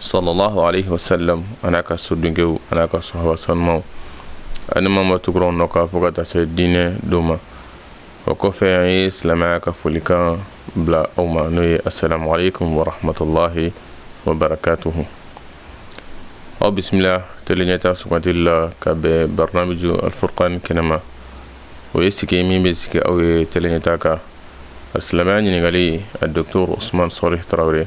sallallahu alaihi wasallam an'a ka sodenkɛw an'a ka sahaba sanumaw ani maa o maa tugura u nɔ kan fo ka taa se diinɛ don ma o kɔfɛ an ye silamɛya ka folikan bila aw ma n'o ye assalamu alaikum wa rahmatullahi wa barakatuhu aw bisimila tele ɲɛta sugantili la ka bɛn barnamiju alfurkan kɛnɛma o ye sigi min bɛ sigi aw ye tele ɲɛta kan silamɛya ɲininkali a docteur usman solih tarawele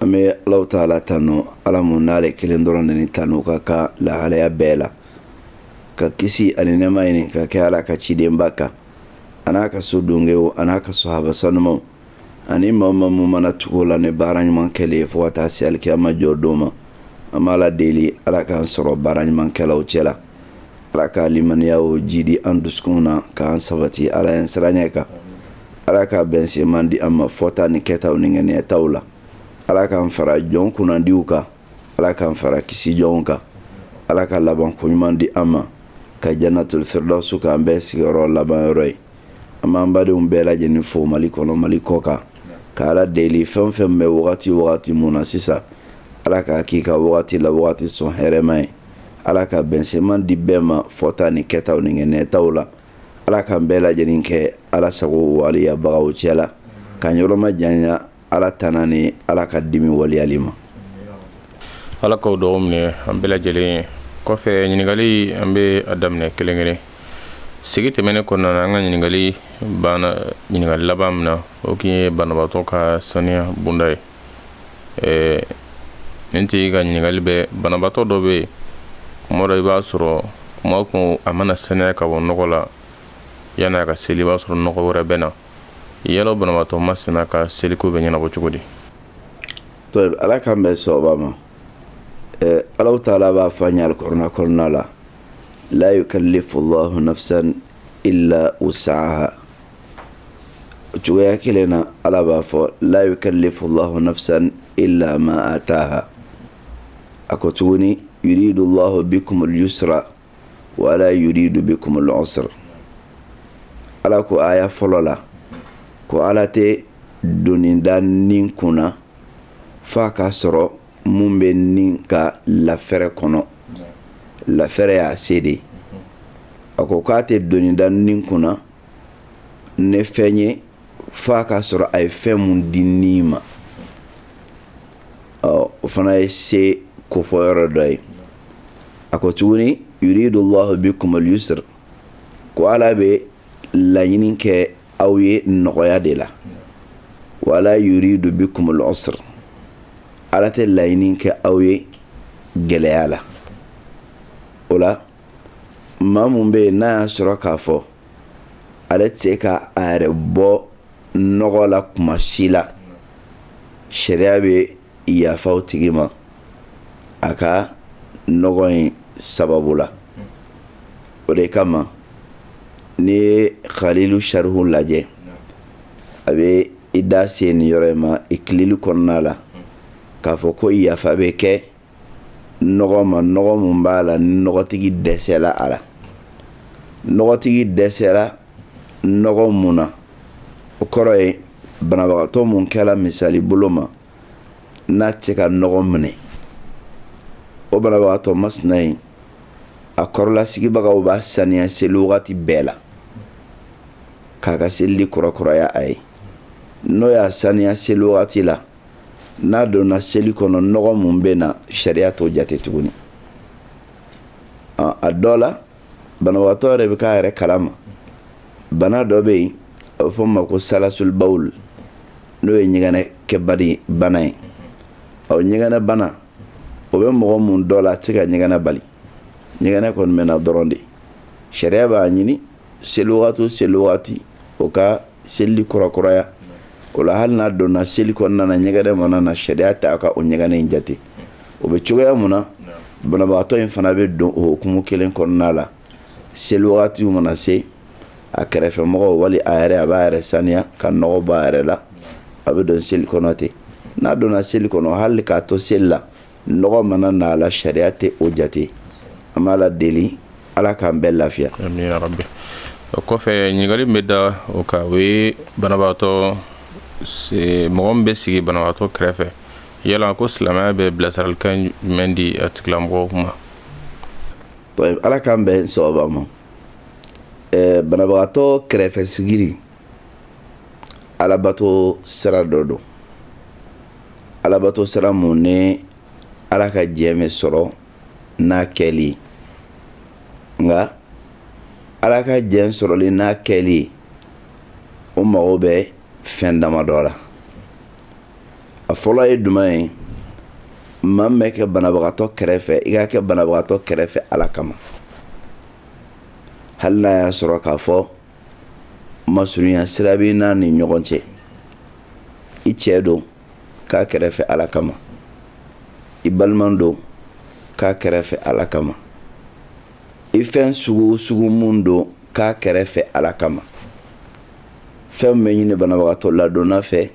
an bɛ alahu taala tanu ala mun ale kelen dɔrɔn ni tanu ka kan lahalaya bɛɛ la ka kisi ani nɛma ɲini ka kɛ ala ka cidenba kan an'a ka sodenkɛw an'a ka sahaba sanumaw ani maa o maa mun mana tugu u la ni baara ɲuman kɛli ye fo ka taa se alikiyama jɔ don ma an b'ala deli ala k'an sɔrɔ baara ɲumankɛlaw cɛ la ala ka limaniya o jiidi an dusukun na k'an sabati ala ɲɛsiranɲɛ kan ala ka bɛnsenman di an ma fɔta ni kɛtaw ni ŋaniyataw la ala k'an fara jɔn kunnadiw kan ala k'an fara kisi jɔnw kan ala ka laban ko ɲuman di an ma ka jannatul firdawsu k'an bɛɛ sigiyɔrɔ laban yɔrɔ ye an b'an badenw bɛɛ lajɛlen fo mali kɔnɔ mali kɔkan ka ala deli fɛn fɛn bɛ wagati wagati mun na sisan ala k'a k'i ka wagati la wagati sɔn hɛrɛma ye ala ka bɛnsenman di bɛɛ ma fɔta ni kɛtaw ni ŋaniyataw la ala k'an bɛɛ lajɛlen kɛ ala sago waleyabagaw cɛ la k'an yɔrɔmajanya ala tana ni ala ka dimi waleyali ma ala k'o dugawu minɛ an bɛɛ lajɛlen ye o kɔfɛ ɲininkali an bɛ a daminɛ kelen kelen sigi tɛmɛnen kɔnɔna na an ka ɲininkali banna ɲininkali laban min na o tun ye banabaatɔ ka saniya bonda ye ɛɛ nin tigi ka ɲininkali bɛ banabatɔ dɔ bɛ yen kuma dɔ i b'a sɔrɔ kuma kun a mana saniya ka bɔ nɔgɔ la yanni a ka seli i b'a sɔrɔ nɔgɔ wɛrɛ bɛ na yɛlɛn o banabatɔ masina ka seliko bɛ ɲɛnabɔ cogo di ala k'an bɛn sawaba ma ala taala b'a fɔ an ye kuranɛ kɔnɔna la la yukallifu llahu nafsan illa wusaha o cogoya kelen na ala b'a fɔ la yukallifu llahu nafsan illa ma ataha a ko tuguni yuridu llahu bikumu lyusra wala yuridu bikumu lusra ala ko aya fɔlɔ la ko ala tɛ doni da ni kun na fo k'a sɔrɔ min bɛ ni ka lafɛɛrɛ kɔnɔ lafɛɛrɛ y'a se de a ko k'a tɛ doni da ni kun na ni fɛn ye f'a k'a sɔrɔ a ye fɛn mun di ni ma o fana ye seko fɔ yɔrɔ dɔ ye a ko tuguni yuridu lahu bikumul yusr ko ala bɛ laɲini kɛ aw ye nɔgɔya de la wala yuridu bikumul usr ala tɛ laɲini kɛ aw ye gɛlɛya la o la maa mun bɛ yen n'a y'a sɔrɔ k'a fɔ ale tɛ se ka a yɛrɛ bɔ nɔgɔ la kuma si la sariya bɛ yafa o tigi ma a ka nɔgɔ in sababu la o de kama n'i ye xalilu sarihu lajɛ a bɛ i da se nin yɔrɔ in ma ikilili kɔnɔna la k'a fɔ ko yafa bɛ kɛ nɔgɔ ma nɔgɔ mun b'a la ni nɔgɔtigi dɛsɛla a la nɔgɔtigi dɛsɛra nɔgɔ mun na o kɔrɔ ye banabagatɔ mun kɛra misali bolo ma n'a tɛ se ka nɔgɔ minɛ o banabagatɔ masina in a kɔrɔla sigibagaw b'a saniya seli wagati bɛɛ la k'a ka seli kurakuraya a ye n'o y'a saniya seli wagati la n'a donna seli kɔnɔ nɔgɔ mun bɛ na sariya t'o jate tuguni a dɔ la banabagatɔ yɛrɛ bɛ k'a yɛrɛ kalama bana dɔ bɛ yen a bɛ fɔ o ma ko salasulibawul n'o ye ɲɛgɛnɛ kɛ bana ye ɔ ɲɛgɛnɛ bana o bɛ mɔgɔ mun dɔ la a tɛ se ka ɲɛgɛnɛ bali ɲɛgɛnɛ kɔni bɛ na dɔrɔn de sariya b'a ɲini seli wagati o seli wagati o ka seli kurakuraya o la hali n'a donna seli kɔnɔna na ɲɛgɛnɛ mana na sariya t'a ka o ɲɛgɛnɛ in jate o bɛ cogoya mun na banabagatɔ in fana bɛ don o hukumu kelen kɔnɔna la seli wagati mana se a kɛrɛfɛ mɔgɔ wali a yɛrɛ a b'a yɛrɛ saniya ka nɔgɔ b'a yɛrɛ la a bɛ don seli kɔnɔ ten n'a donna seli kɔnɔ hali k'a to seli la nɔgɔ mana na a la sariya tɛ o jate an b'ala deli ala k'an bɛɛ lafiya o kɔfɛ ɲininkali min bɛ da o kan o ye banabagatɔ mɔgɔ min bɛ sigi banabagatɔ kɛrɛfɛ yala ko silamɛya bɛ bilasiralikan jumɛn di a tigilamɔgɔ ma ala k'an bɛn sawaba ma banabagatɔ kɛrɛfɛ sigiri alabato sira dɔ don alabato sira mun ni ala ka diɲɛ bɛ sɔrɔ n'a kɛli ye nka ala ka diɲɛ sɔrɔli n'a kɛli ye o mago bɛ fɛn damadɔ la a fɔlɔ ye jumɛn ye maa min bɛ kɛ banabagatɔ kɛrɛfɛ i ka kɛ banabagatɔ kɛrɛfɛ ala kama hali n'a y'a sɔrɔ k'a fɔ masurunya sira b'i n'a ni ɲɔgɔn cɛ i cɛ don k'a kɛrɛfɛ ala kama i balima don k'a kɛrɛfɛ ala kama i fɛn sugu o sugu mun don k'a kɛrɛfɛ ala kama fɛn mun bɛ ɲini banabagatɔ ladonna fɛ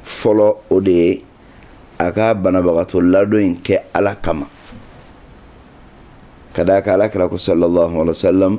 fɔlɔ o de ye a ka banabagatɔ ladon in kɛ ala kama ka d'a kan ala kira ko sallallahu alaihi wa sallam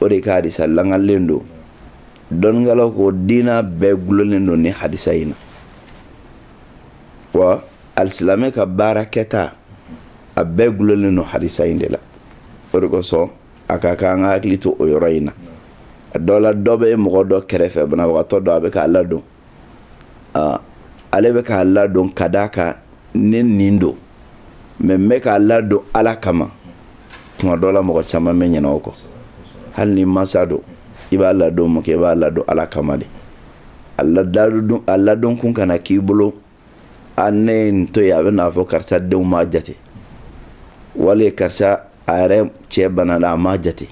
o de ka hadisa langalen don dɔnnikɛlaw ko diina bɛɛ gulonnen don ni hadisa in na wa alisilamɛ ka baara kɛta a bɛɛ gulonnen don hadisa in de la o de kosɔn a ka kan an ka hakili to o yɔrɔ in na a dɔ la dɔ bɛ mɔgɔ dɔ kɛrɛfɛ banabagatɔ dɔ a bɛ k'a ladon ale bɛ k'a ladon ka d'a kan ne nin don mɛ n bɛ k'a ladon ala kama tuma dɔ la mɔgɔ caman bɛ ɲina o kɔ hali n'i masa don i b'a ladon mun kɛ i b'a ladon ala kama de a ladon kun kana k'i bolo a ne ye nin to yen a bɛna fɔ karisa denw m'a jate wali karisa a yɛrɛ cɛ banala a m'a jate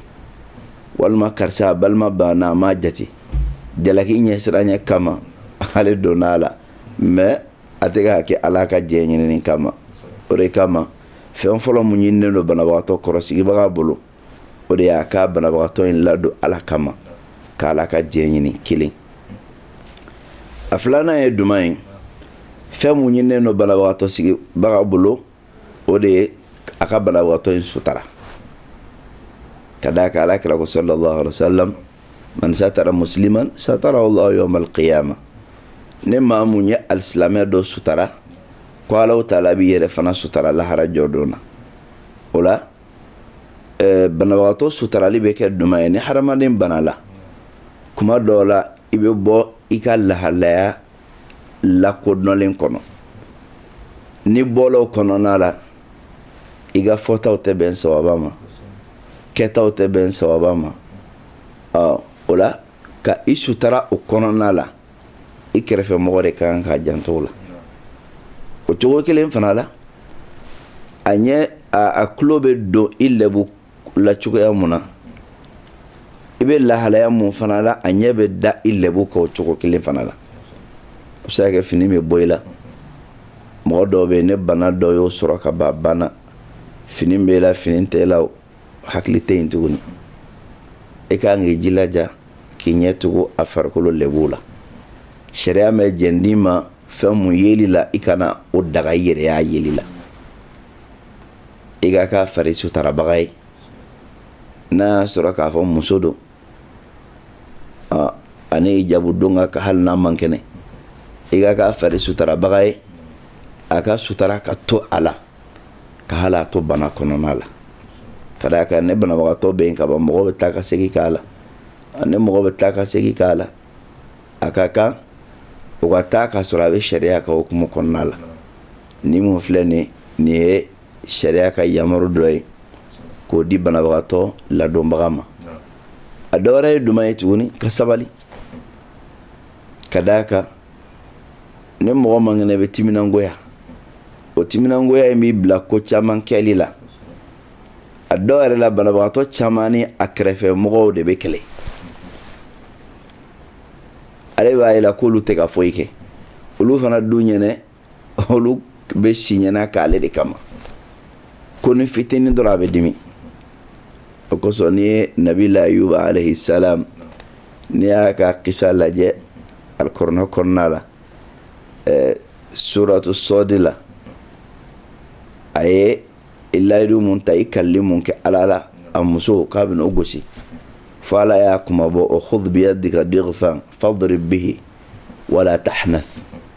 walima karisa a balima banana a m'a jate jalaki ɲɛsiranɲɛ kama ale donna a la mɛ a tɛ k'a kɛ ala ka diɲɛ ɲinini kama o de kama fɛn fɔlɔ mun ɲininen don banabagatɔ kɔrɔsigibaga bolo o de y'a ka banabagatɔ in ladon ala kama k'ala ka diɲɛ ɲini kelen a filanan ye duman ye fɛn mun ɲininen don banabagatɔ sigibaga bolo o de ye a ka banabagatɔ in sutara ka d'a kan ala kira ko sallallahu alaihi wasallam man satara musliman satara Allah yawm al-qiyamah ni maa mun ye alisilamɛ dɔ sutara ko Allahu taala b'i yɛrɛ fana sutara lahara jɔdon na o la eh, banabagatɔ sutarali bɛ kɛ duman ye ni hadamaden banala kuma dɔw la i bɛ bɔ i ka lahalaya lakodɔnlen kɔnɔ n'i bɔla o kɔnɔna la i ka fɔtaw tɛ bɛn sawaba ma kɛtaw tɛ bɛn sawaba ma o la ka i sutara o kɔnɔna la i kɛrɛfɛ mɔgɔ de ka kan k'a janto o la o cogo kelen fana la a ɲɛ a tulo bɛ don i lɛbu la cogoya mun na i bɛ lahalaya mun fana la a ɲɛ bɛ da i lɛbu kan o cogo kelen fana la a bɛ se ka kɛ fini bɛ bɔ i la mɔgɔ dɔw bɛ yen ni bana dɔ y'o sɔrɔ ka ban banna fini bɛ la fini tɛ la o hakili tɛ yen tuguni e ka kan k'i jilaja k'i ɲɛ tugu a farikolo lɛbuw la sariya ma jɛn d'i ma fɛn mun yeli la i kana o daga i yɛrɛ y'a yeli la i ka k'a fari sutarabaga ye n'a y'a sɔrɔ k'a fɔ muso don ani hijabu don ka hali n'a man kɛnɛ i ka k'a fari sutarabaga ye a ka sutara ka to a la ka hali a to bana kɔnɔna la ka d'a kan ni banabagatɔ bɛ yen ka ban mɔgɔ bɛ taa ka segin k'a la ni mɔgɔ bɛ taa ka segin k'a la a ka kan o ka taa k'a sɔrɔ a bɛ sariya ka hukumu kɔnɔna la nin mun filɛ nin nin ye sariya ka yamaru dɔ ye k'o di banabagatɔ ladonbaga ma a dɔ wɛrɛ ye jumɛn ye tuguni ka sabali ka d'a kan ni mɔgɔ man kɛnɛ bɛ timinangoya o timinangoya in b'i bila ko caman kɛli la a dɔw yɛrɛ la banabagatɔ caman ni a kɛrɛfɛ mɔgɔw de bɛ kɛlɛ ale b'a ye la k'olu tɛ ka foyi kɛ olu fana dun ɲɛnɛ olu bɛ si ɲɛna k'ale de kama konin fitinin dɔrɔn a bɛ dimi o kosɔn n'i ye nabila ayuba alayhi salam n'i y'a ka kisa lajɛ alikɔrɔnɛ kɔnɔna la ɛɛ suratu sɔdi la a ye layidu mun ta i kalili mun kɛ ala la a muso k'a bɛna o gosi fo ala y'a kunmabɔ wa khudh biyadika dighthan fadrib bihi wala tahnath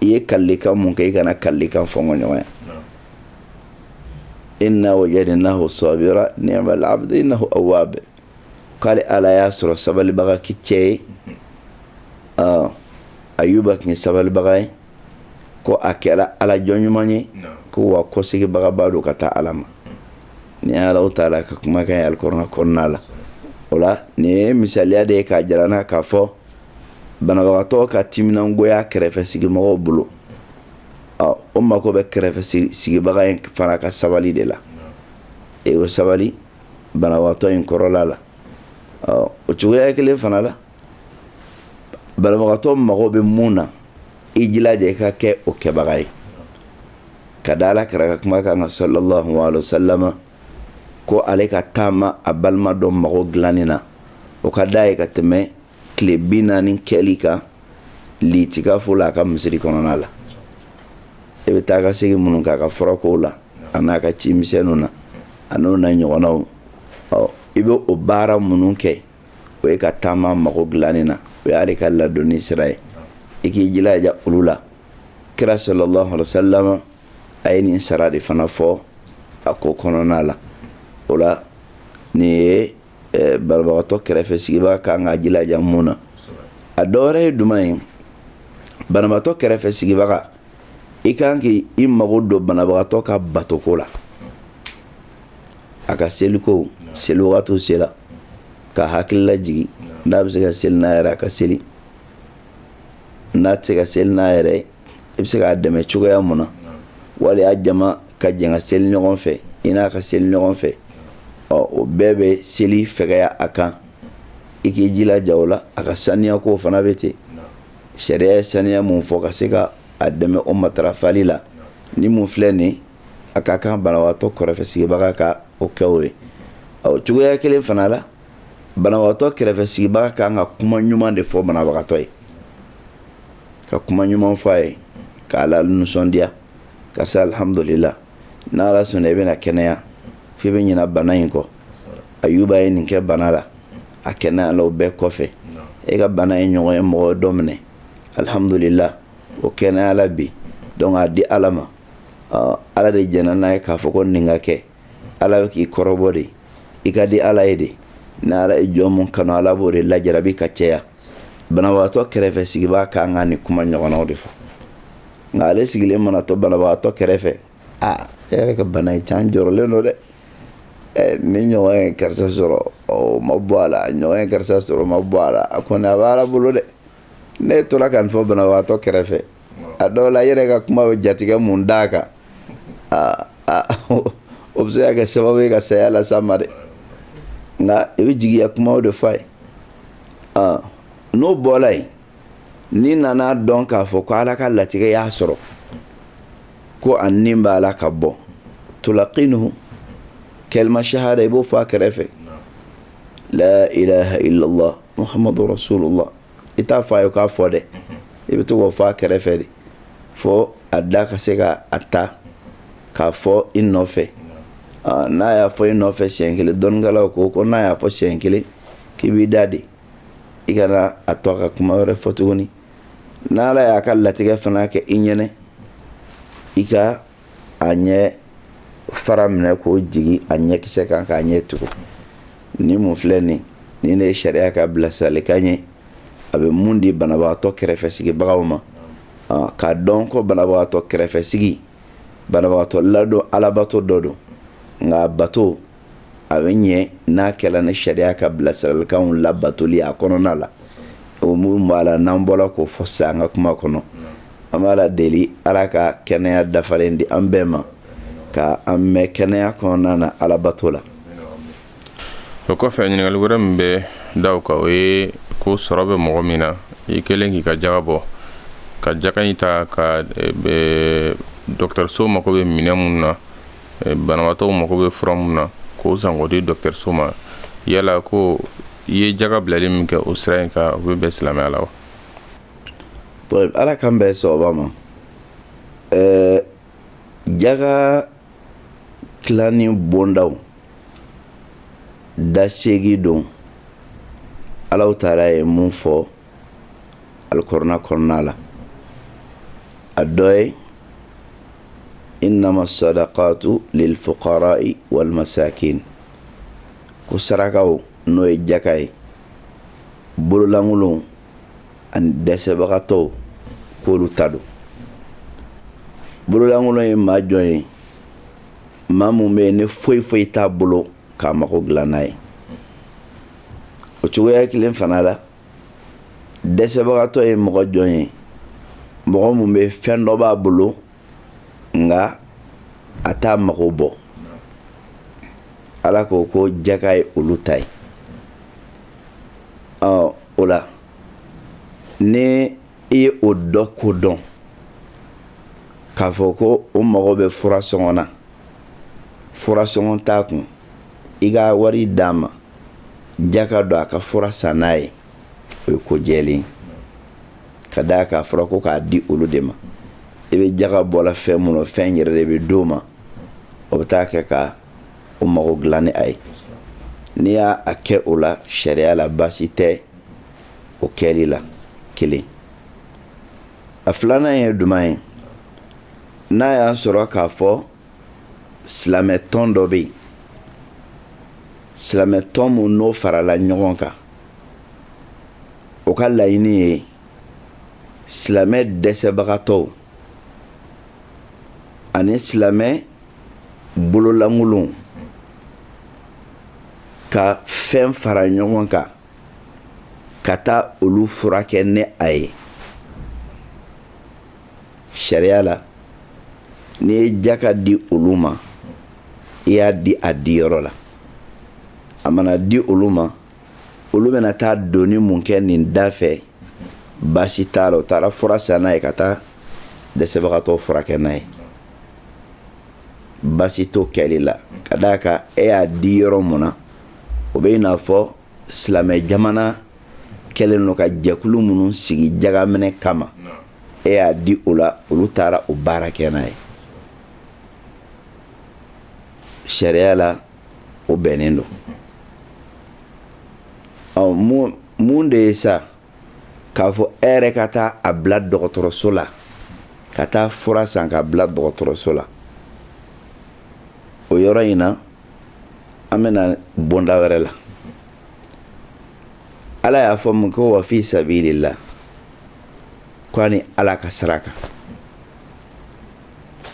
i ye kalikan mun kɛ i kana kalikan fɔ ma ɲɔgɔn ye inna wajadnahu sabira ni'mal abdu innahu awwab k'ale ala y'a sɔrɔ sabalibaga kisɛ ye ayuba tun ye sabalibaga ye ko a kɛra ala jɔn ɲuman ye ko wa kɔseginbagaba don ka taa ala ma nin ala taala ka kumakan ye alikɔrɔnɛ kɔnɔna la o la nin ye misaliya de ye k'a jira an na k'a fɔ banabagatɔ ka timinangoya kɛrɛfɛ sigimɔgɔw bolo o mako bɛ kɛrɛfɛ sigibaga in fana ka sabali de la e o sabali banabagatɔ in kɔrɔla la o cogoya kelen fana la banabagatɔ mago bɛ mun na i jilaja i ka kɛ o kɛbaga ye ka da ala kira ka kuma kan ka sallallahu alaihi wasallam ko ale ka taama a balima dɔ mago dilanni na o ka d'a ye ka tɛmɛ tile bi naani kɛli kan litikafo la a ka misiri kɔnɔna la e bɛ taa ka segin minnu k'a ka furakow la a n'a ka ci misɛnninw na a n'o na ɲɔgɔnnaw ɔ i bɛ o baara minnu kɛ o ye ka taa a mago dilanni na o y'ale ka ladonni sira ye i k'i jilaja olu la kira sallallahu alaihi wasallam a ye nin sara de fana fɔ a ko kɔnɔna la o la nin ye banabagatɔ kɛrɛfɛ sigibaa kan ka jilaja mun na a dɔ wɛrɛ ye jumɛn ye banabagatɔ kɛrɛfɛ sigibaga i kan k'i mago don banabagatɔ ka batoko la a ka seliko seli waati sera k'a hakililajigin n'a bɛ se ka seli n'a yɛrɛ a ka seli n'a tɛ se ka seli n'a yɛrɛ i bɛ se k'a dɛmɛ cogoya mun na wali y'a jama ka jɛn ka seli ɲɔgɔn fɛ i n'a ka seli ɲɔgɔn fɛ ɔ o bɛɛ bɛ seli fɛgɛya a kan i k'i jilaja o la a ka saniyako fana bɛ ten sariya ye saniya mun fɔ ka se ka a dɛmɛ o matarafali la ni mun filɛ nin a ka kan banabagatɔ kɛrɛfɛ sigibaga ka o kɛ o ye ɔ cogoya kelen fana la banabagatɔ kɛrɛfɛ sigibaga ka kan ka kuma ɲuman de fɔ banabagatɔ ye ka kuma ɲuman fɔ a ye k'a lanisɔndiya karisa alihamudulila n'ala sɔnna i bɛna kɛnɛya f'i bɛ ɲina bana in kɔ ayuba ye nin kɛ bana la a kɛnɛyala o bɛɛ kɔfɛ e ka bana in ɲɔgɔn ye mɔgɔ dɔ minɛ alihamudulila o kɛnɛyala bi donc a di ala ma ala de jɛnna n'a ye k'a fɔ ko nin ka kɛ ala bɛ k'i kɔrɔbɔ de i ka di ala ye de ni ala ye jɔn mun kanu ala b'o de lajarabi ka caya banabagatɔ kɛrɛfɛ sigibaa ka kan ka nin kuma ɲɔgɔnnaw de fɔ nka ale sigilen mana to banabagatɔ kɛrɛfɛ aa e yɛrɛ ka bana in cɛ n jɔrɔlen don dɛ Eh, nin ɲɔgɔn ye karisa sɔrɔ o ma bɔ a la ɲɔgɔn ye karisa sɔrɔ o ma bɔ a la a kɔni a bɛ ala bolo dɛ n'e tora ka nin fɔ banabagatɔ kɛrɛfɛ a dɔw la i yɛrɛ ka kuma b'a jatigɛ mun d'a kan o bɛ se ka kɛ sababu ye ka saya las'a ma dɛ nka i bɛ jigiya kumaw de f'a ye n'o bɔra yen n'i nana dɔn k'a fɔ ko ala ka latigɛ y'a sɔrɔ ko a ni b'a la ka bɔ tulakinuhu kalima shahada i b'o fɔ a kɛrɛfɛ la ilaha illallah muhammadu rasulullah i t'a fɔ a ye k'a fɔ dɛ i bɛ to k'o fɔ a kɛrɛfɛ de fo a da ka se ka a ta k'a fɔ i nɔfɛ n'a y'a fɔ i nɔfɛ siɲɛ kelen dɔnnikɛlaw ko ko n'a y'a fɔ siɲɛ kelen k'i b'i dade i kana a to a ka kuma wɛrɛ fɔ tuguni n'ala y'a ka latigɛ fana kɛ i ɲɛna i ka a ɲɛ fara minɛ k'o jigin a ɲɛkisɛ kan k'a ɲɛ tugu nin mun filɛ nin nin ne ye sariya ka bilasiralikan ye a bɛ mun di banabagatɔ kɛrɛfɛ sigibagaw ma k'a dɔn ko banabagatɔ kɛrɛfɛ sigi banabagatɔ ladon alabato dɔ don nka bato a bɛ ɲɛ n'a kɛla ni sariya ka bilasiralikanw labatoli a kɔnɔna la o minnu b'a la n'an bɔra k'o fɔ sisan an ka kuma kɔnɔ an b'ala deli ala ka kɛnɛya dafalen di an bɛɛ ma ka an mɛn kɛnɛya kɔnɔna na alabato la o kɔfɛ ɲininkali wɛrɛ min bɛ da o kan o ye ko sɔrɔ bɛ mɔgɔ min na i kɛlen k'i ka jaga bɔ ka jaga in ta ka e, dɔgɔtɔrɔso mako bɛ minɛn minnu na banabaatɔw mago bɛ fura min na k'o san k'o di dɔkitɛriso ma yala ko i ye jaga bilali min kɛ o sira in kan o bɛ bɛn silamɛya la wa tayib ala k'an bɛn sawaba ma ɛɛ jaga tilani bondaw da seegin don alahu taala ye mun fɔ alikuranɛ kɔnɔna la a dɔ ye inama sadakatu lilfuqarai wal masakin ko sarakaw n'o ye jaka ye bololankolonw ani dɛsɛbagatɔw k'olu ta don bololankolon ye maa jɔn ye maa mun bɛ yen ni foyi foyi t'a bolo k'a mago dilan n'a ye o cogoya kelen fana la dɛsɛbagatɔ ye mɔgɔ jɔn ye mɔgɔ mun bɛ fɛn dɔ b'a bolo nka a t'a mago bɔ ala ko ko jaka ye olu ta ye o la ni i ye o dɔ ko dɔn k'a fɔ ko o mago bɛ fura sɔngɔ na fura sɔngɔ t'a kun i ka wari d'a ma jaka don a ka fura san n'a ye o ye ko jɛlen ka d'a kan a fɔra ko k'a di olu de ma i bɛ jaka bɔ la fɛn mun nɔ fɛn yɛrɛ de bɛ d'o ma o bɛ taa kɛ ka o mago dilan ni a ye n'i y'a a kɛ o la sariya la baasi tɛ o kɛli la kelen a filanan ye juman ye n'a y'a sɔrɔ k'a fɔ silamɛ tɔn dɔ bɛ yen silamɛ tɔn mun n'o farala ɲɔgɔn kan o ka laɲini ye silamɛ dɛsɛbagatɔw ani silamɛ bololankolonw ka fɛn fara ɲɔgɔn kan ka taa olu furakɛ ni a ye sariya la n'i ye jaka di olu ma i y'a di a diyɔrɔ la a mana di olu ma olu bɛna taa doni mun kɛ nin da fɛ baasi t'a la u taara fura san n'a ye ka taa dɛsɛbagatɔ furakɛ n'a ye baasi t'o kɛli la ka d'a kan e y'a di yɔrɔ mun na o bɛ i n'a fɔ silamɛ jamana kɛlen don ka jɛkulu minnu sigi jagaminɛ kama e y'a di o la olu taara o baara kɛ n'a ye sariya la o bɛnnen don mun de ye sa k'a fɔ e yɛrɛ ka taa a bila dɔgɔtɔrɔso la ka taa fura san k'a bila dɔgɔtɔrɔso la o yɔrɔ in na an bɛna bonda wɛrɛ la ala y'a fɔ mun ko wa fi sabilillah ko ani ala ka sira kan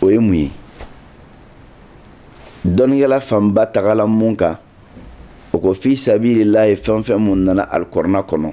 o ye mun ye dɔnnikɛla fanba tagala mun kan o ko fi sabilillahi fɛn fɛn mun nana alikurana kɔnɔ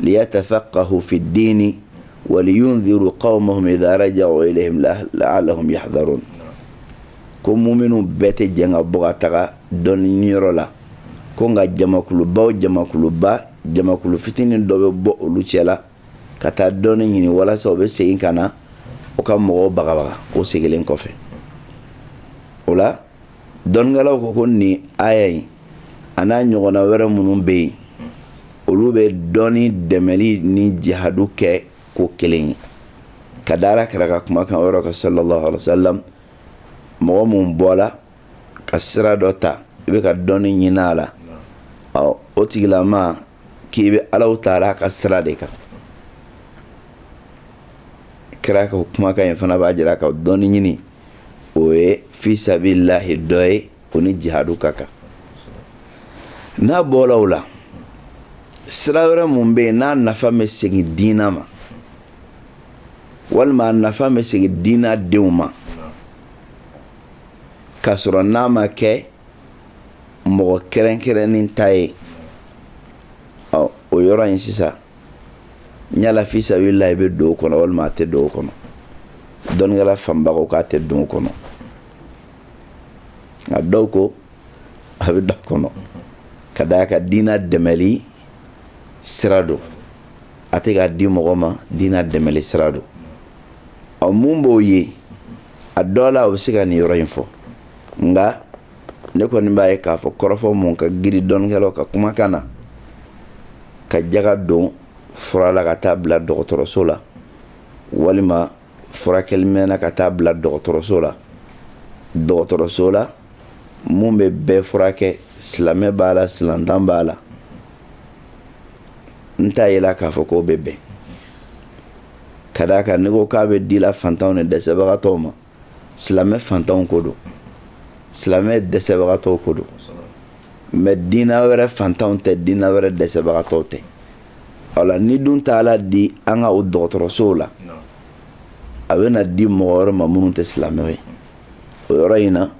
liyatafaqqahu fi ddini waliyundhiru qaumahum idha rajau ilayhim laalahum yahdharun ko muminu bɛɛ tɛ jɛn ka bɔ ka taga dɔnni yɔrɔ la ko nka jamakuluba o jamakuluba jamakulu fitinin dɔ bɛ bɔ olu cɛ la ka taa dɔnni ɲini walasa u bɛ segin ka na u ka mɔgɔw bagabaga o seginlen kɔfɛ o la dɔnnikɛlaw ko ko nin aya in an'a ɲɔgɔnna wɛrɛ minnu bɛ yen olu bɛ dɔnni dɛmɛli ni jihadu kɛ ko kelen ye ka da ala kira ka kumakan yɔrɔ kan sallallahu alaihi wasallam mɔgɔ mun bɔla ka sira dɔ ta i bɛ ka dɔnni ɲini a la ɔ o tigilama k'i bɛ alahu taala ka sira de kan kira ka kumakan in fana b'a jira ka dɔnni ɲini o ye fi sabilillahi dɔ ye o ni jihadu ka kan n'a bɔla o la sira wɛrɛ mun bɛ yen n'a nafa bɛ segin diina ma walima a nafa bɛ segin diina denw ma k'a sɔrɔ n'a ma kɛ mɔgɔ kɛrɛnkɛrɛnnen ta ye ɔ o yɔrɔ in sisan yala fi sabilillahi bɛ don o kɔnɔ walima a tɛ don o kɔnɔ dɔnnikɛla fanba ko k'a tɛ don o kɔnɔ nka dɔw ko a bɛ don a kɔnɔ ka d'a kan diina dɛmɛli sira don a tɛ k'a di mɔgɔ ma diina dɛmɛli sira don ɔ mun b'o ye a dɔ la o bɛ se ka nin yɔrɔ in fɔ nka ne kɔni b'a ye k'a fɔ kɔrɔfɔ mun ka giri dɔnnikɛlaw ka kumakan na ka jaga don fura la ka taa bila dɔgɔtɔrɔso la walima furakɛli mɛnna ka taa bila dɔgɔtɔrɔso la dɔgɔtɔrɔso la mun bɛ bɛɛ furakɛ silamɛ b'a la silantan b'a la n t'a yela k'a fɔ k'o bɛ bɛn ka d'a kan n'i ko k'a bɛ di la fantanw ni dɛsɛbagatɔw ma silamɛ fantanw ko don silamɛ dɛsɛbagatɔw ko don mɛ diina wɛrɛ fantanw tɛ diina wɛrɛ dɛsɛbagatɔw tɛ o la ni dun taala di an ka o dɔgɔtɔrɔsow la a bɛ na di mɔgɔ wɛrɛ ma minnu tɛ silamɛw ye o yɔrɔ in na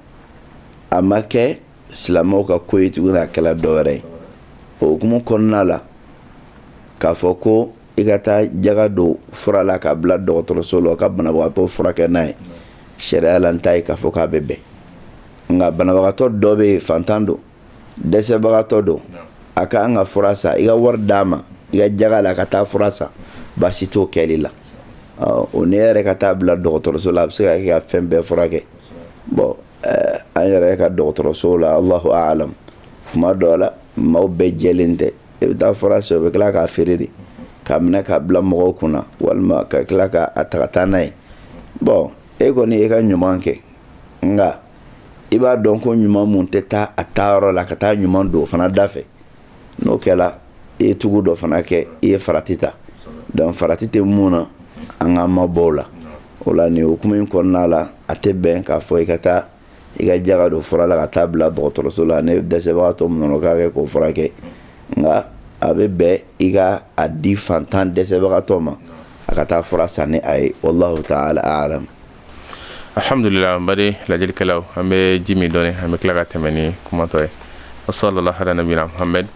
a ma kɛ silamɛw ka ko ye tuguni a kɛla dɔ wɛrɛ ye o hukumu kɔnɔna la k'a fɔ ko i ka taa jaga don fura la k'a bila dɔgɔtɔrɔso la ka banabagatɔ furakɛ n'a ye sariya la n t'a ye k'a fɔ k'a bɛ bɛn nka banabagatɔ dɔ bɛ yen fantan don dɛsɛbagatɔ don a ka kan ka fura san i ka wari d'a ma i ka jaga la ka taa fura san baasi t'o kɛli la o n'e yɛrɛ ka taa bila dɔgɔtɔrɔso la a bɛ se ka kɛ ka fɛn bɛɛ furakɛ bɔn an yɛrɛ ka dɔgɔtɔrɔso la allahu a'lam kuma dɔ la maaw bɛɛ jɛlen tɛ i bɛ taa fura san o bɛ tila k'a feere de k'a minɛ k'a bila mɔgɔw kunna walima ka tila k'a ta ka taa n'a ye bɔn e kɔni e ka ɲuman kɛ nka i b'a dɔn ko ɲuman mun tɛ taa a taayɔrɔ la ka taa ɲuman don o fana da fɛ n'o kɛra i ye tugu dɔ fana kɛ i ye farati ta dɔnki farati tɛ mun na an k'an mabɔ o la o la nin hukumu in kɔnɔna la a tɛ bɛn k'a fɔ i ka taa i ka jaga don fura la ka taa bila dɔgɔtɔrɔso la ni dɛsɛbagatɔ min nana k'a kɛ k'o furakɛ nka a bɛ bɛn i ka a di fantan dɛsɛbagatɔ ma a ka taa fura san ni a ye wallahu ta'ala a'lam alhamdulillah an baden lajɛlikɛlaw an bɛ ji min dɔɔni an bɛ tila ka tɛmɛ ni kuma tɔ ye wa sallallahu ala nabiyina muhammad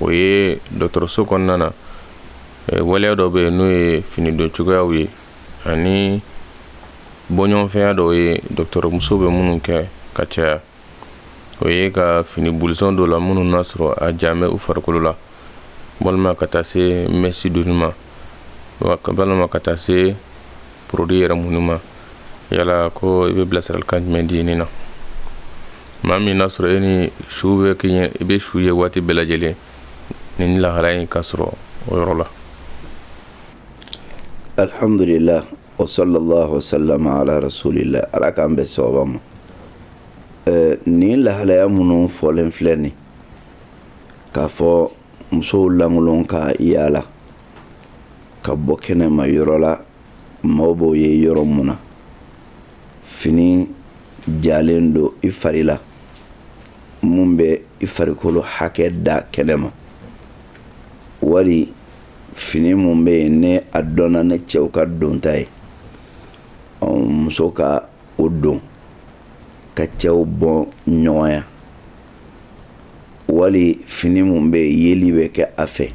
o ye dɔgɔtɔrɔso kɔnɔna na waleya dɔ bɛ yen n'o ye fini don cogoyaw ye ani bɔɲɔgɔnfɛnya dɔw ye dɔgɔtɔrɔmusow bɛ minnu kɛ ka caya o ye ka fini bulusɔn dɔ la minnu n'a sɔrɔ a jalen bɛ u farikolo la walima ka taa se mɛsi donni ma walima ka taa se porodui yɛrɛ munni ma yala ko i bɛ bilasiralikan jumɛn di nin na maa min n'a sɔrɔ e ni su bɛ kɛ i bɛ su ye waati bɛɛ lajɛlen nin lahalaya in ka sɔrɔ o yɔrɔ la alhamdulillah wa sallallahu wa sallam ala rasulillah ala k'an bɛn sawaba ma nin lahalaya minnu fɔlen filɛ nin k'a fɔ musow lankolon ka yaala ka bɔ kɛnɛma yɔrɔ la maaw b'o ye yɔrɔ mun na fini jalen don i fari la mun bɛ i farikolo hakɛ da kɛnɛ ma wali fini mun bɛ yen ne a dɔnna ne cɛw ka donta ye muso ka o don ka cɛw bɔ ɲɔgɔnya wali fini mun bɛ yeli bɛ kɛ a fɛ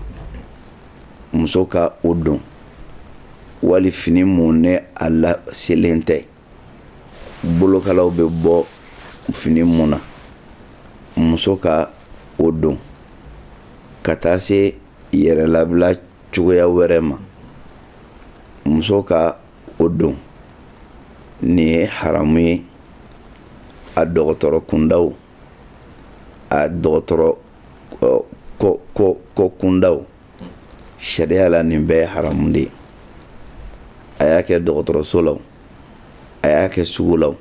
muso ka o don wali fini mun ne a laselen tɛ bolokalaw bɛ bɔ fini mun na muso ka o don ka taa se yɛrɛlabila cogoya wɛrɛ ma muso ka o don nin ye haramu ye a dɔgɔtɔrɔ kunda o a dɔgɔtɔrɔ ko kunda o sariya la nin bɛɛ ye haramu de ye a y'a kɛ dɔgɔtɔrɔso la o a y'a kɛ sugu la o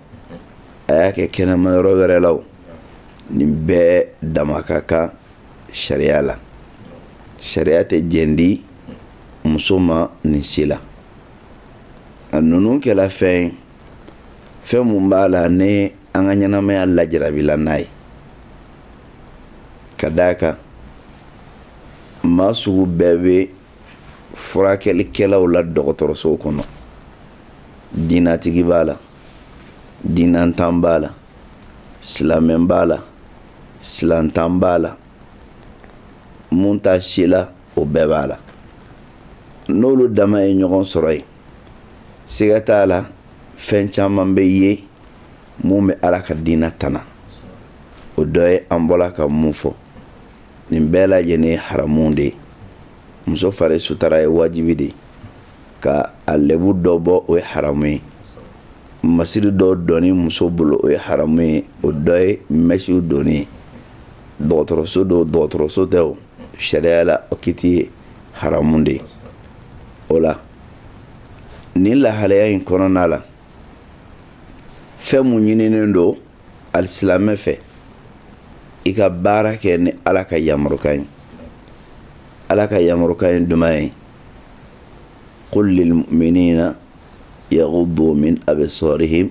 a y'a kɛ kɛnɛma yɔrɔ wɛrɛ la o nin bɛɛ dama ka kan sariya la sariya tɛ jɛn di muso ma nin si la a ninnu kɛla fɛn ye fɛn mun b'a la ni an ka ɲɛnamaya lajarabila n'a ye ka d'a kan maa sugu bɛɛ bɛ furakɛlikɛlaw la dɔgɔtɔrɔsow kɔnɔ diinatigi b'a la diinantan b'a la silamɛ b'a la silantan b'a la mun t'a si la o bɛɛ b'a la n'olu dama ye ɲɔgɔn sɔrɔ yen siga t'a la fɛn caman bɛ yen mun bɛ ala ka diina tana o dɔ ye an bɔla ka mun fɔ nin bɛɛ lajɛlen haramu de ye muso fari sutara ye wajibi de ye ka a lɛbu dɔ bɔ o ye haramu ye masiri dɔ donni muso bolo o ye haramu ye o dɔ ye mɛsiw donni ye dɔgɔtɔrɔso don dɔgɔtɔrɔso tɛ o sariya la o kiti ye haramu de ye o la nin lahalaya in kɔnɔna la fɛn mun ɲininen don alisilamɛ fɛ i ka baara kɛ ni ala ka yamarukan ye ala ka yamarukan ye jumɛn ye qul lilmu'minina yaghuddu min absarihim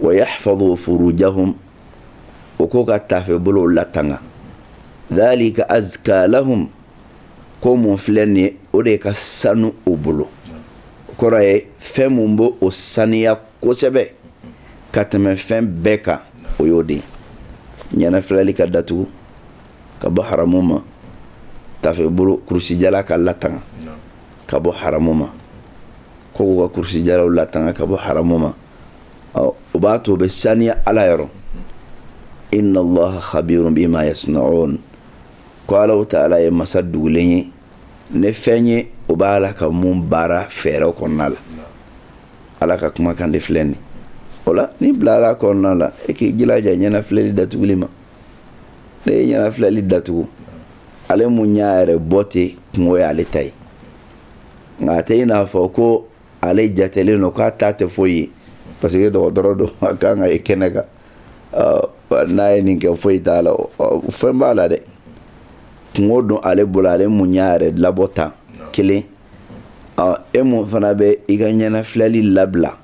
wa yahfazu furujahum o ko ka tafe bolo latanga dhalika azka lahum ko mun filɛ nin ye o de ka sanu o bolo o kɔrɔ ye fɛn mun b'o o saniya kosɛbɛ ka tɛmɛ fɛn bɛɛ kan o y'o de ɲɛnafilɛli ka datugu ka bɔ haramu ma tafe bolo kurusijala ka latanga ka bɔ haramu ma ko k'u ka kurusijalaw latanga ka bɔ haramu ma ɔ o b'a to o bɛ saniya ala yɔrɔ inna allaha khabirun bima yasnaun ko alahu taala ye masa dugulen ye ni fɛn ye o b'a la ka mun baara fɛɛrɛw kɔnɔna la ala ka kumakan de filɛ nin o la n'i bilara kɔnɔna la e k'i jilaja ɲɛnafilɛli datuguli ma n'e ye ɲɛnafilɛli datugu ale mun y'a yɛrɛ bɔ ten kungo ye ale ta ye nka a tɛ i n'a fɔ ko ale jatelen don k'a ta tɛ foyi ye parce que dɔgɔtɔrɔ don a kan k'a ye kɛnɛ kan n'a ye nin kɛ foyi t'a la fɛn b'a la dɛ kungo don ale bolo ale mun y'a yɛrɛ labɔ tan kelen e mun fana bɛ i ka ɲɛnafilɛli labila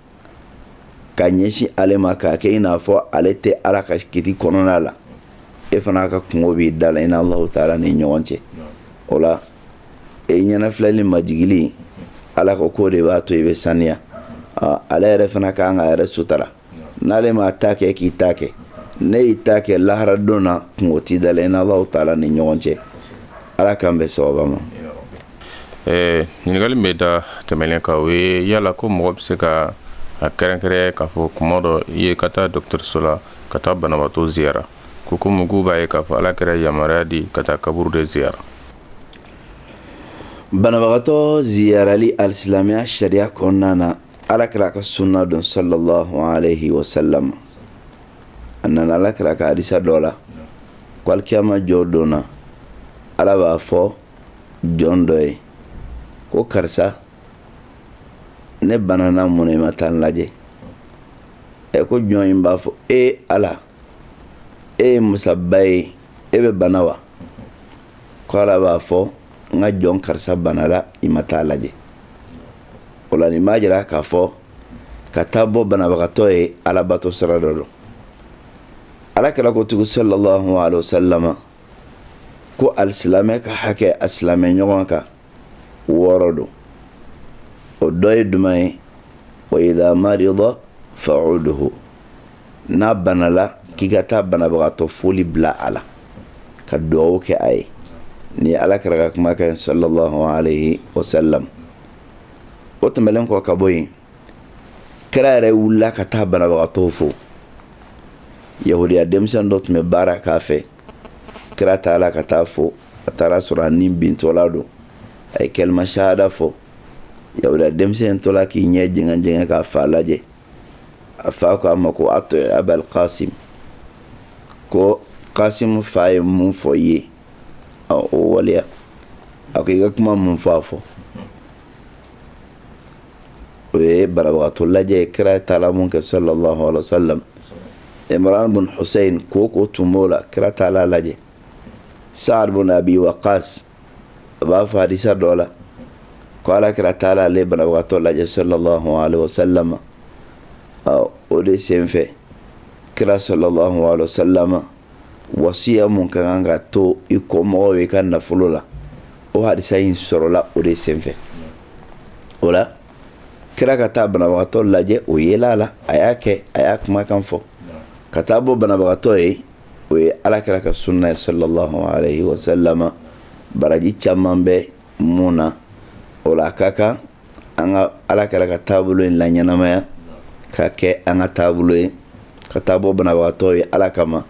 ka ɲɛsin ale ma k'a kɛ i n'a fɔ ale tɛ ala ka kiti kɔnɔna la e fana ka kungo b'i da la i n'ala taala ni ɲɔgɔn cɛ o la e ɲɛnafilɛli majigili ala ko k'o de b'a to i bɛ saniya ale yɛrɛ fana ka kan k'a yɛrɛ sutara n'ale m'a ta kɛ k'i ta kɛ n'e y'i ta kɛ lahara don na kungo t'i da la i n'ala taala ni ɲɔgɔn cɛ ala k'an bɛn sawaba ma ɲininkali min bɛ da tɛmɛlen kan o ye yala ko mɔgɔ bɛ se ka a kɛrɛnkɛrɛn k'a fɔ kuma dɔ i ye ka taa dɔgɔtɔrɔso la ka taa banabagatɔ ziyara ko ko mɔgɔw b'a ye k'a fɔ ala kira yamaruya di ka taa kaburu de ziyara banabagatɔ ziyarali alisilamɛya sariya kɔnɔna na ala kira ka sunna don sallallahu alaihi wa sallam a nana ala kira ka hadisa dɔ la ko alikiyama jɔ don na ala b'a fɔ jɔn dɔ ye ko karisa ne banana mun na i ma taa n lajɛ ɛ ko jɔn in b'a fɔ e ala e ye masaba ye e bɛ bana wa ko ala b'a fɔ n ka jɔn karisa banala i ma taa a lajɛ o la nin b'a jira k'a fɔ ka taa bɔ banabagatɔ ye alabato sira dɔ don ala kira ko tugu sallallahu alaihi wa sallam ko alisilamɛ ka hakɛ a silamɛ ɲɔgɔn kan wɔɔrɔ don o dɔ ye jumɛn ye wa idha marida fa'uduhu n'a banala k'i ka taa banabagatɔ foli bila a la ka dugawu kɛ a ye nin ala kira ka kuma kɛ sallallahu alayhi wa sallam o tɛmɛlen kɔ ka bɔ yen kira yɛrɛ wulila ka taa banabagatɔw fo yahudiya denmisɛn dɔ tun bɛ baara k'a fɛ kira taara ka taa fo a taara sɔrɔ a ni bintɔla don a ye kalima sahada fɔ yahudiya denmisɛn tola k'i ɲɛ jɛngɛn jɛngɛn k'a fa lajɛ a fa ko a ma ko ati'i abal kasim ko kasim fa ye mun fɔ i ye o waleya a ko i ka kuma mun fɔ a fɔ o ye banabagatɔ lajɛ ye kira taala mun kɛ sallallahu alaihi wasallam Imran bin Hussein kooko tun b'o la kira taala lajɛ Sa'ad bin Abi Waqqas a b'a fɔ hadisa dɔ la ko ala kira taala ale banabagatɔ lajɛ sallallahu alaihi wasallam o de senfɛ kira sallallahu alaihi wasallam wasiya mun ka kan ka to i kɔmɔgɔw ye i ka nafolo la o hadisa in sɔrɔla o de senfɛ o la kira ka taa banabagatɔ lajɛ o yela la a y'a kɛ a y'a kumakan fɔ ka taa bɔ banabagatɔ ye o ye ala kira ka sunna ye sallallahu alaihi wasallam baraji caman bɛ mun na o la a ka kan an ka ala kira ka taabolo in laɲɛnamaya ka kɛ an ka taabolo ye ka taa bɔ banabagatɔ ye ala kama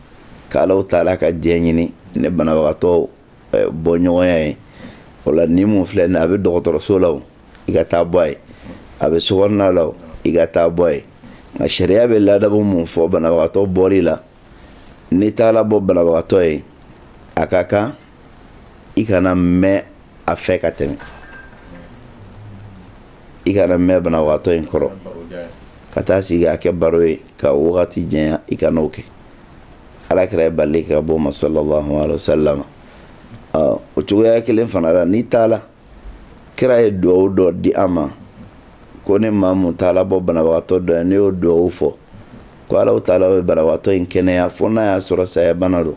ka ala taala ka diɲɛ ɲini ni banabagatɔ eh, bɔ ɲɔgɔnya ye o la ni mun filɛ a bɛ dɔgɔtɔrɔso la i ka taa bɔ a ye a bɛ sokɔnɔna la i ka taa bɔ a ye nka sariya bɛ ladabu mun fɔ banabagatɔ bɔli la n'i taara bɔ banabagatɔ ye a ka kan i kana mɛn a fɛ ka tɛmɛ i kana mɛn banabagatɔ in kɔrɔ ka taa sigi a kɛ baro ye ka wagati janya i kana o kɛ ala kira ye bali ka bɔ ma sallallahu alaihi wasallam o cogoya kelen fana la n'i taala kira ye dugawu dɔ di an ma ko ni maa mun taala bɔ banabagatɔ dɔ ye n'i y'o dugawu fɔ ko ala taala bɛ banabagatɔ in kɛnɛya fo n'a y'a sɔrɔ saya bana don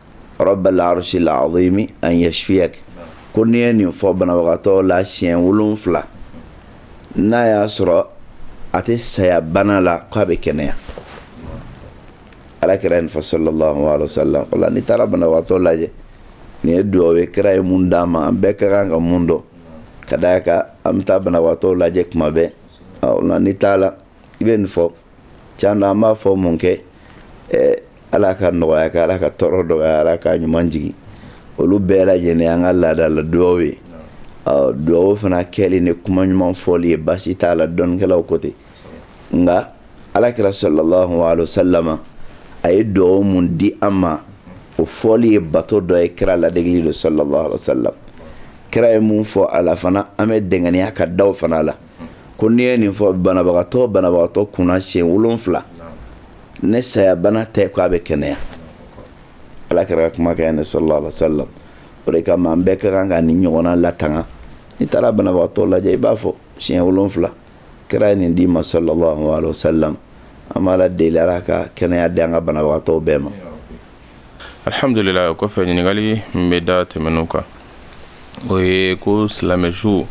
rabbal arshil azimi an yashfiyak ko n'i ye nin fɔ banabagatɔ la siɲɛ wolonfila n'a y'a sɔrɔ a tɛ saya bana la k'a bɛ kɛnɛya ala kira nin fɔ sallallahu alaihi wasallam o la n'i taara banabagatɔ lajɛ nin ye dugawu ye kira ye mun d'an ma an bɛɛ ka kan ka mun dɔn ka d'a kan an bɛ taa banabagatɔ lajɛ kuma bɛɛ o la n'i taala i bɛ nin fɔ can an b'a fɔ mun kɛ ala ka nɔgɔya kɛ ala ka tɔɔrɔ dɔgɔya ala ka ɲuman jigin olu bɛɛ lajɛlen an ka laada la dugawu ye dugawu fana kɛli ni kuma ɲuman fɔli ye baasi t'a la dɔnnikɛlaw ko ten nka ala kira sallallahu alaihi wasallam a ye dugawu mun di an ma o fɔli ye bato dɔ ye kira ladegeli don sallallahu alaihi wasallam kira ye mun fɔ a la fana an bɛ jija ka da fana a la ko n'i ye nin fɔ banabagatɔ banabagatɔ kunna siɲɛ wolon wolonwula ni sayabana tɛ ko a bɛ kɛnɛya ala kira ka kumakan ne salalahu alayihi wasalam o de kama an bɛɛ ka kan ka nin ɲɔgɔnna latanga n'i taara banabagatɔ lajɛ i b'a fɔ siɲɛ wolonwula kira ye nin d'i ma salalahu alayihi wasalam an b'ala deli ala ka kɛnɛya di an ka banabagatɔ bɛɛ ma alihamdulila o kɔfɛ ɲininkali min bɛ da tɛmɛnen kan o ye ko silamɛ su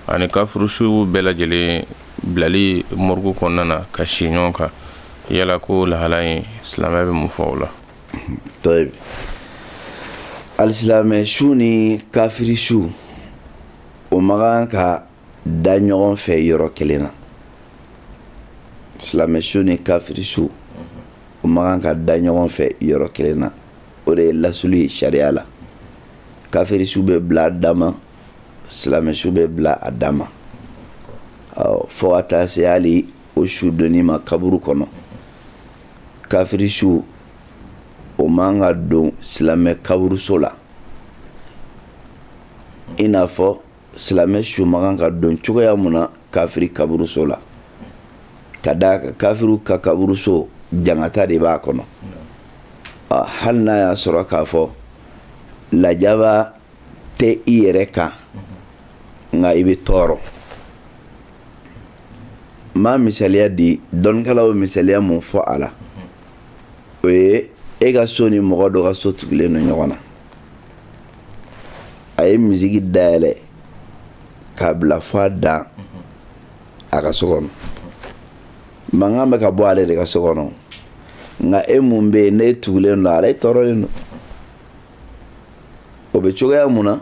ani kafiri su bɛɛ lajɛlen bilali morgue kɔnɔna na ka si ɲɔgɔn kan yala ko lahala in silamɛya bɛ mun fɔ o la alisilamɛ su ni kafiri su o man kan ka da ɲɔgɔn fɛ yɔrɔ kelen na silamɛ su ni kafiri su o man kan ka da ɲɔgɔn fɛ yɔrɔ kelen na o de ye lasili ye sariya la kafiri su bɛ bila a dama silamɛ su bɛ bila a dan ma fo ka taa se hali o su donni ma kaburu kɔnɔ kafiri su o man ka don silamɛ kaburuso la i n'a fɔ silamɛ su man kan ka don cogoya mun na kafiri kaburuso la ka d'a kan kafiriw ka kaburuso jangata de b'a kɔnɔ hali n'a y'a sɔrɔ k'a fɔ lajaba tɛ i yɛrɛ kan nka i bɛ tɔɔrɔ n b'a misaliya di dɔnnikɛlaw bɛ misaliya mun fɔ a la o ye e ka so ni mɔgɔ dɔ ka so tugulen don ɲɔgɔn na a ye misiki dayɛlɛ k'a bila fo a dan a ka so kɔnɔ mankan bɛ ka bɔ ale de ka so kɔnɔ nka e mun bɛ yen n'e tugulen don a la e tɔɔrɔlen don o bɛ cogoya mun na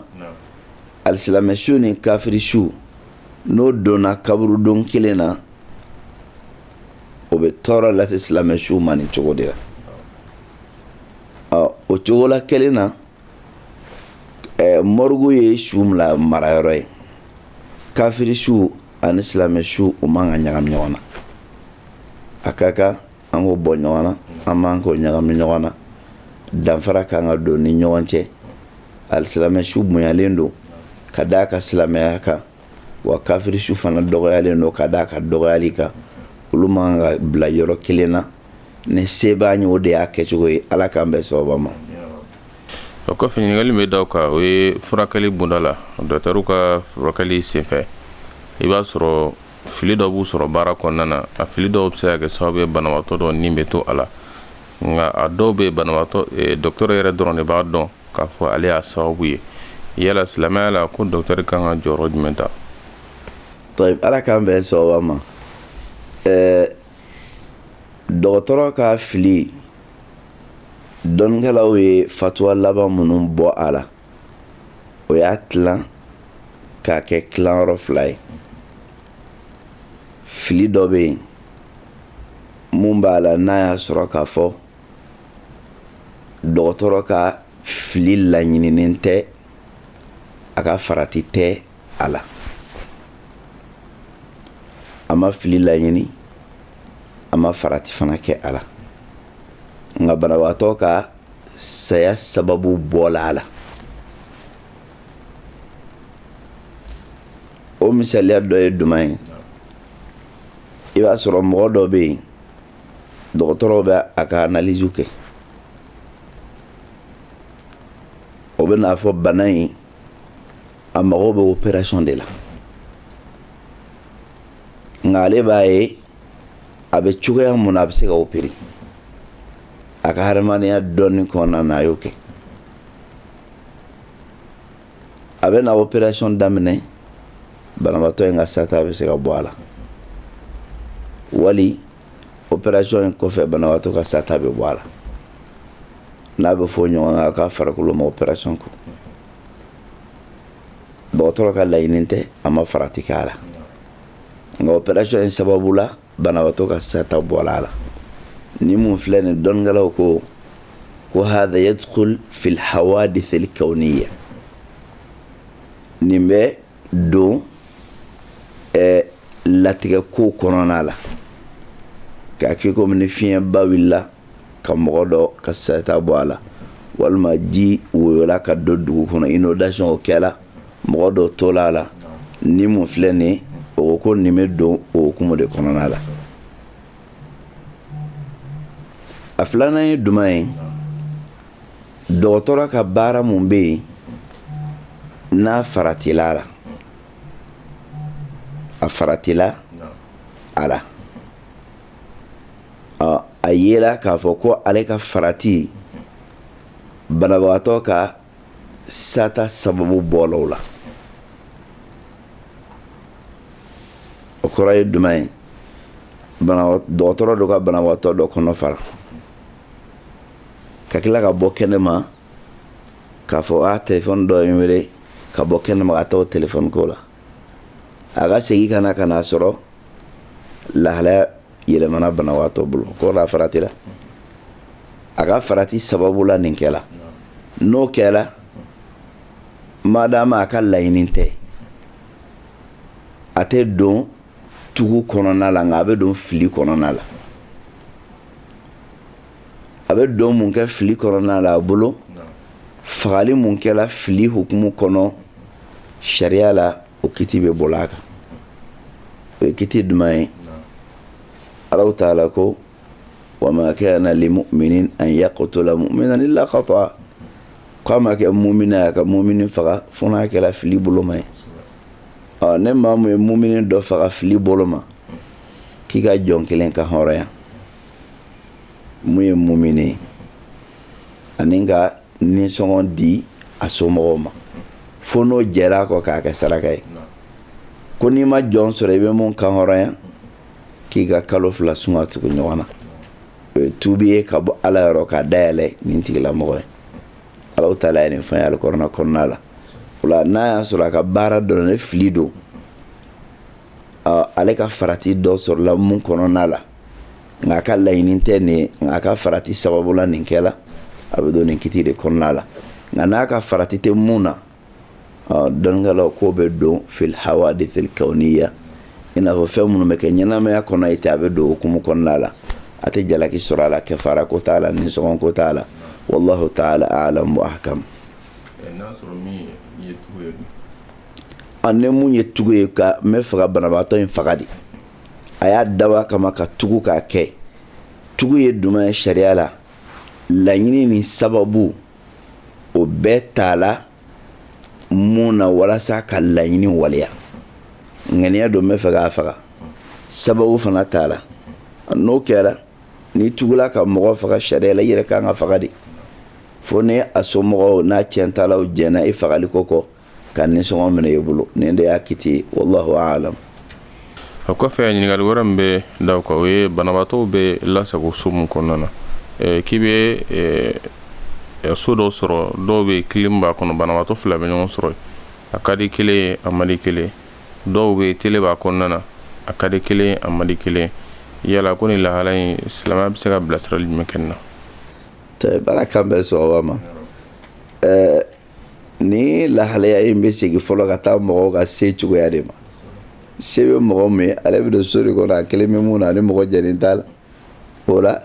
alisilamɛ su ni kafiri su n'o donna kaburudo kelen na o bɛ tɔɔrɔ lase silamɛ su ma nin cogo de la ɔ o cogola kelen na morgue ye su marayɔrɔ ye kafiri su ani silamɛ su o man ka ɲagami ɲɔgɔn na a ka kan an k'o bɔ ɲɔgɔn na an man k'o ɲagami ɲɔgɔn na danfara ka kan ka don ni ɲɔgɔn cɛ alisilamɛ su bonyalen don ka d'a ka silamɛya kan wa kafiri su fana dɔgɔyalen don ka d'a ka dɔgɔyali kan olu man ka bila yɔrɔ kelen na ni se b'a ye o de y'a kɛcogo ye ala k'an bɛn sababa ma o kɔfɛ ɲininkali min bɛ da o kan o ye furakɛli bunda la docteur ka furakɛli senfɛ i b'a sɔrɔ fili dɔ b'u sɔrɔ baara kɔnɔna na a fili dɔw bɛ se ka kɛ sababu ye banabaatɔ dɔ ni bɛ to a la nka a dɔw bɛ banabaatɔ eh, dɔkitɛri yɛrɛ dɔrɔn de b'a dɔn k'a fɔ ale y'a sababu ye yala silamɛya la ko dɔkitɛri kan ka jɔyɔrɔ jumɛn ta tɔyi ala k'an bɛn sababa ma ɛɛ eh, dɔgɔtɔrɔ ka fili dɔnnikɛlaw ye fatuwa laban minnu bɔ a la o y'a tilan k'a kɛ tilan yɔrɔ fila ye fili dɔ bɛ yen mun b'a la n'a y'a sɔrɔ k'a fɔ dɔgɔtɔrɔ ka fili laɲininen tɛ a ka farati tɛ a la a ma fili laɲini a ma farati fana kɛ a la nka banabagatɔ ka saya sababu bɔla a la o misaliya dɔ ye jumɛn ye i b'a sɔrɔ mɔgɔ dɔ bɛ yen dɔgɔtɔrɔw bɛ a ka analiziw kɛ o bɛ n'a fɔ bana in a mago bɛ operasɔn de la nka ale b'a ye a bɛ cogoya mun na a bɛ se ka opere a ka hadamadenya dɔnni kɔnɔna na a y'o kɛ a bɛ na operasɔn daminɛ banabaatɔ in ka sata bɛ se ka bɔ a la wali operasɔn in kɔfɛ banabaatɔ ka sata bɛ bɔ a la n'a bɛ fɔ ɲɔgɔn kan k'a farikolo ma operasɔn kun dɔgɔtɔrɔ ka laɲini tɛ a ma farati kɛ a la nka operasɔn in sababu la banabagatɔ ka sata bɔla a la ni mun filɛ nin dɔnnikɛlaw ko ko hada yadkhul fil hawadisil kawniya nin bɛ don ɛɛ latigɛ ko kɔnɔna la k'a kɛ komi ni fiɲɛba wulila ka mɔgɔ dɔ ka sata bɔ a la walima ji woyola ka don dugu kɔnɔ inundation o kɛra mɔgɔ dɔ tola a la ni mun filɛ nin o ko nin bɛ don o hukumu de kɔnɔna la a filanan ye jumɛn ye dɔgɔtɔrɔ ka baara mun bɛ yen n'a faratila a la a faratila a la a yela k'a fɔ ko ale ka farati banabagatɔ ka sata sababu bɔlaw la o kɔrɔ ye jumɛn ye dɔgɔtɔrɔ dɔ ka banabagatɔ dɔ kɔnɔ fara ka tila ka bɔ kɛnɛ ma k'a fɔ a telefɔni dɔ ye n wele ka bɔ kɛnɛ ma ka taa o telefɔni ko la a ka segin ka na ka n'a sɔrɔ lahalaya yɛlɛmana banabagatɔ bolo o kɔrɔ a faratila a ka farati sababu la nin kɛla n'o kɛla madama a ka laɲini tɛ a tɛ don tugu kɔnɔna la nka a bɛ don fili kɔnɔna la a bɛ don mun kɛ fili kɔnɔna la a bolo fagali mun kɛla fili hukumu kɔnɔ sariya la o kiti bɛ bɔla a kan o ye kiti jumɛn ye alahu taala ko wa ma kana li mu'minin an yaqtula mu'minan illa khata k'a ma kɛ mumini ye ka mumini faga fo n'a kɛla fili boloma ye ɔ ni maa mun ye mumini dɔ faga fili boloma k'i ka jɔn kelen kan hɔrɔnya mun ye mumini ye ani ka nisɔngɔ di a somɔgɔw ma fo n'o jɛra a kɔ k'a kɛ saraka ye ko n'i ma jɔn sɔrɔ i bɛ mun kan hɔrɔnya k'i ka kalo fila sun ka tugu ɲɔgɔn na o ye tubi ye ka bɔ ala yɔrɔ k'a dayɛlɛ nin tigilamɔgɔ ye ala taala ye nin fɛn ye alikurana kɔnɔna la o la n'a y'a sɔrɔ a ka baara dɔrɔn ne fili don ale ka farati dɔ sɔrɔla mun kɔnɔna la nka a ka laɲini tɛ nin ye nka a ka farati sababu la nin kɛla a bɛ don nin kiti de kɔnɔna la nka n'a ka farati tɛ mun na dɔnnikɛlaw k'o bɛ don fil hawadithil kawniya i n'a fɔ fɛn minnu bɛ kɛ ɲɛnamaya kɔnɔ ten a bɛ don o hukumu kɔnɔna la a tɛ jalaki sɔrɔ a la kɛfara ko t'a la nisɔngɔ ko t'a la wallahu ta'ala a'lam wa ahkam ani mun ye tugu ye ka n bɛ fɛ ka banabaatɔ in faga de a y'a dabɔ a kama ka tugu k'a kɛ tugu ye jumɛn ye sariya la laɲini ni sababu o bɛɛ tala mun na walasa ka laɲini waleya ŋaniya don n bɛ fɛ k'a faga sababu fana tala n'o kɛra n'i tugula ka mɔgɔ faga sariya la i yɛrɛ ka kan ka faga de fo ni a somɔgɔw n'a ciyɛntalaw jɛnna i fagali ko kɔ ka nisɔngɔ minɛ i bolo nin de y'a kiti ye wallahu alam o kɔfɛ ɲininkali wɛrɛ min bɛ da o kan o ye banabaatɔw bɛ lasago so min kɔnɔna na k'i bɛ so dɔw sɔrɔ dɔw bɛ kilim b'a kɔnɔ banabaatɔ fila bɛ ɲɔgɔn sɔrɔ a ka di kelen ye a man di kelen dɔw bɛ tele b'a kɔnɔna na a ka di kelen ye a man di kelen yala ko ni lahala in silamɛya bɛ se ka bilasirali jumɛn kɛ nin na baara kan bɛ sɔrɔ ma Ni lahalaya in bɛ segin fɔlɔ ka taa mɔgɔw ka se cogoya de ma se bɛ mɔgɔ min ye ale bɛ don so de kɔnɔ a kelen bɛ mun na a ni mɔgɔ jɛlen t'a la o la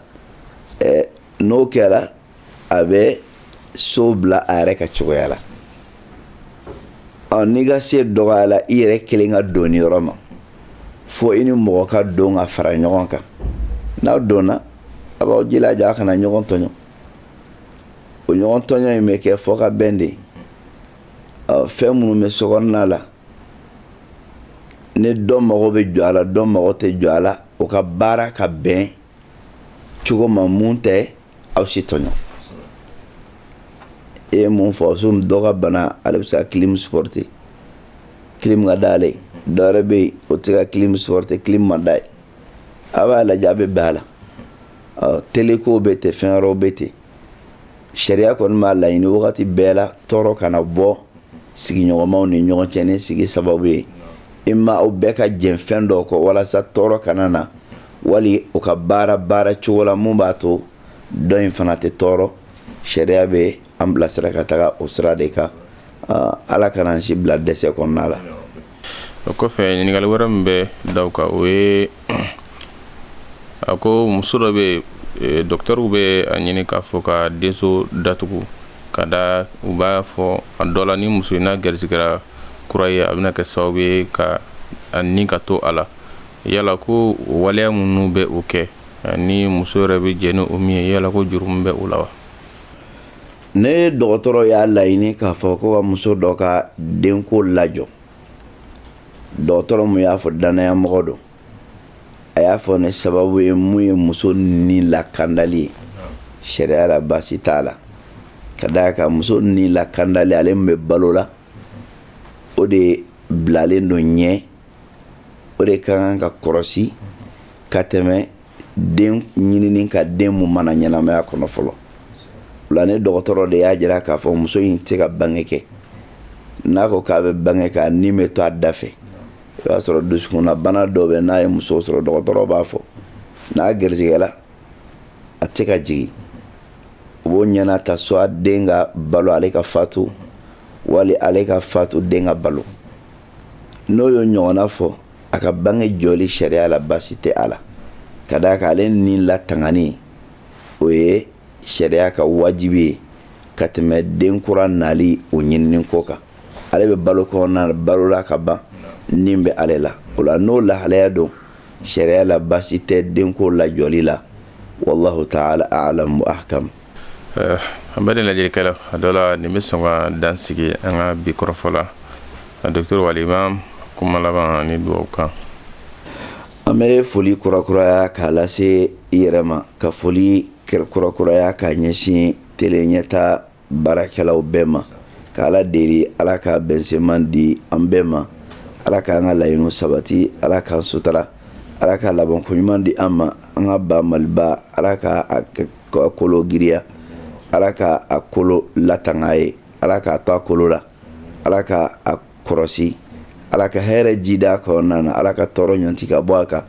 n'o kɛra a bɛ so bila a yɛrɛ ka cogoya la ɔ n'i ka se dɔgɔyala i yɛrɛ kelen ka don yɔrɔ ma fo i ni mɔgɔ ka don ka fara ɲɔgɔn kan n'aw donna a b'aw jija a kana ɲɔgɔn tɔɲɔ o ɲɔgɔn tɔɲɔ in bɛ kɛ fɔ ka bɛn de fɛn minnu bɛ sokɔnɔna la ni dɔ mago bɛ jɔ a la dɔ mago tɛ jɔ a la o ka baara ka bɛn cogo ma mun tɛ aw si tɔɲɔ e ye mun fɔ so dɔ ka bana ale bɛ se ka kilim sipɔrite kilim ka di ale ye dɔ wɛrɛ bɛ yen o tɛ se ka kilim sipɔrite kilim man d'a ye a b'a lajɛ a bɛ bɛn a la teleko bɛ ten fɛn wɛrɛw bɛ ten sariya kɔni b'a laɲini wagati bɛɛ la tɔɔrɔ kana bɔ sigiɲɔgɔnmaw ni ɲɔgɔn cɛ ni sigi sababu ye i ma aw bɛɛ ka jɛn fɛn dɔ kɔ walasa tɔɔrɔ kana na wali u ka baara baara cogo la min b'a to dɔ in fana tɛ tɔɔrɔ sariya bɛ an bilasira ka taga o sira de kan ala kana an si bila dɛsɛ kɔnɔna la o kɔfɛ ɲininkali wɛrɛ min bɛ da o kan o ye a ko muso dɔ bɛ, dɔkitɛriw bɛ a ɲini k'a fɔ ka denso datugu ka da u b'a fɔ a dɔ la ni muso in n'a garisigɛra kura ye a bɛna kɛ sababu ye ka a ni ka to a la yala ko waleya minnu bɛ o kɛ ani muso yɛrɛ bɛ jɛn ni o min ye yala ko jurumu bɛ o la wa ni dɔgɔtɔrɔ y'a laɲini k'a fɔ ko ka muso dɔ ka denko lajɔ dɔgɔtɔrɔ min y'a fɔ dannaya mɔgɔ don a y'a fɔ ni sababu ye mun ye muso ni lakandali ye sariya la baasi t'a la ka d'a kan muso ni lakandali ale min bɛ balo la o de bilalen don ɲɛ o de ka kan ka kɔrɔsi ka tɛmɛ den ɲinini kan den mun ma na ɲɛnamaya kɔnɔ fɔlɔ o la ni dɔgɔtɔrɔ de y'a jira k'a fɔ muso in tɛ ka bange kɛ n'a ko k'a bɛ bange kɛ a ni bɛ to a da fɛ i b'a sɔrɔ dusukunna bana dɔ bɛ n'a ye muso sɔrɔ dɔgɔtɔrɔ b'a fɔ n'a garisigɛla a tɛ ka jigin u b'o ɲɛnata soit den ka balo ale ka fatu wali ale ka fatu den ka balo n'o y'o ɲɔgɔnna fɔ a ka bange jɔli sariya la basi tɛ a la ka d'a kan ale ni latangani o ye sariya ka wajibi ye ka tɛmɛ den kura nali o ɲinini ko kan ale bɛ balo kɔnɔna balola ka ban ni bɛ ale la o la n'o lahalaya don sariya la basi tɛ denko lajɔli la wallahu ta'ala a'lam wa ahkam eh, an bɛ ni lajɛlikɛla a dɔ la nin bɛ sɔn ka dan sigi an ka bi kɔrɔfɔ la a docteur wal imam kuma laban ani dugawu kan an bɛ foli kurakuraya k'a lase i yɛrɛ ma ka foli kurakuraya k'a ɲɛsin tele ɲɛta baarakɛlaw bɛɛ ma k'ala deli ala ka bɛnsenman di an bɛɛ ma ala k'an ka laɲiniw sabati ala k'an sutara ala ka labankoɲuman di an ma an ka ba maliba ala ka k'a kolo giriya ala ka a kolo latanga an ye ala k'a to a kolo la ala ka a kɔrɔsi ala ka hɛrɛ jiidi a kɔnɔna na ala ka tɔɔrɔ ɲɔnti ka bɔ a kan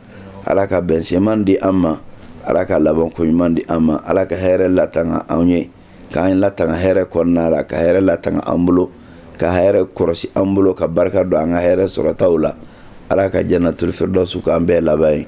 ala ka bɛnsenman di an ma ala ka labankoɲuman di an ma ala ka hɛrɛ latanga anw ye k'an latanga hɛrɛ kɔnɔna la ka hɛrɛ latanga an bolo ka hɛrɛ kɔrɔsi an bolo ka barika don an ka hɛrɛ sɔrɔtaw la ala ka jannatul firdausu k'an bɛɛ laban ye